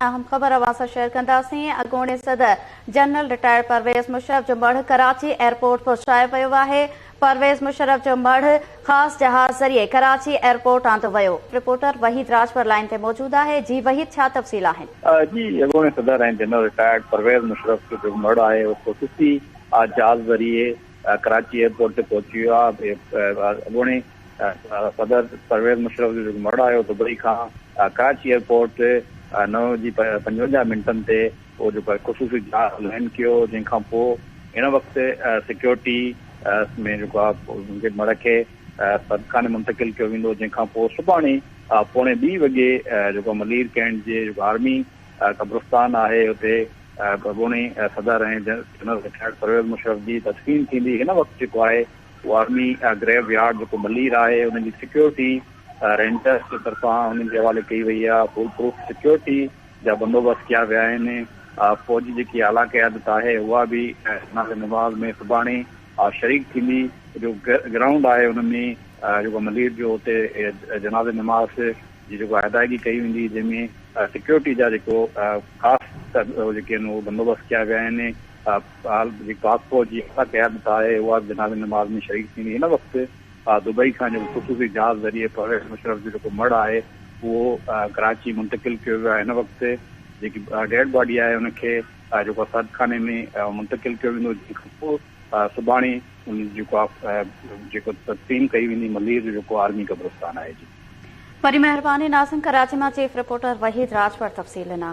اهم خبر اوهان سان شيئر ڪنداسين، اڳوڻي صدر جنرل رٽائرڊ پرويز مشرف جو مڙهه ڪراچي ايئرپورٽ پهچايو ويو آهي، پرويز مشرف جو مڙهه خاص جهاز ذريعي ڪراچي ايئرپورٽ آندو ويو، رپورٽر وحيد راڄپر لائين تي موجود آهي، جي وحيد ڇا تفصيل آهن؟ جي اڳوڻي صدر ۽ جنرل رٽائرڊ پرويز مشرف جو جيڪو مڙهه آهي اهو خصوصي جهاز ذريعي ڪراچي ايئرپورٽ تي پهچي ويو آهي اڳوڻي صدر پرويز مشرف جو جيڪو مڙهه آيو دبئي کان ڪراچي ايئرپورٽ تي نو وڄي پنجونجاهه منٽن تي اهو جيڪو خصوصي جهاز لينڊ ڪيو جنهن کان پوء هن وقت سيڪيورٽي ۾ جيڪو آهي مڙهه کي سرخاني منتقل ڪيو ويندو جنهن کان پوء سڀاڻي پوڻي ٻي وڳي جيڪو ملير ڪينٽ جي جيڪو آرمي قبرستان آهي اتي اڳوڻي صدر ۽ جنرل رٽائرڊ پرويز مشرف جي تدفين ٿيندي هن وقت جيڪو آهي اهو آرمي گريو يارڊ جيڪو ملير آهي ان جي سيڪيورٽي رينجرز جي طرفان انهن جي حوالي ڪئي وئي آهي فول پروف سيڪيورٽي جا بندوبست ڪيا ويا آهن فوج جي جيڪي اعليٰ قيادت آهي اها به جناز نماز ۾ سڀاڻي شريڪ ٿيندي جو گرائونڊ آهي ان ۾ جيڪو ملير جو اتي جناز نماز جي جيڪو ادائگي ڪئي ويندي جنهن ۾ سيڪيورٽي جا جيڪو خاص جيڪي آهن اهي بندوبست ڪيا ويا آهن جيڪي پاڪ فوج جي اعليٰ قيادت آهي اها به جنازي نماز ۾ شريڪ ٿيندي هن وقت دبئي کان جيڪو خصوصي جهاز ذريعي پرويز مشرف جو جيڪو مڙهه آهي اهو ڪراچي منتقل ڪيو ويو آهي هن وقت جيڪي ڊيڊ باڊي آهي ان کي جيڪو آهي سرد خاني ۾ منتقل ڪيو ويندو جنهن کان پوء سڀاڻي ان جيڪو آهي جيڪو تدفين ڪئي ويندي ملير جو جيڪو آرمي قبرستان آهي وڏي مهرباني ناظم ڪراچي مان چيف رپورٽر وحيد راجپر تفصيل ڏنا.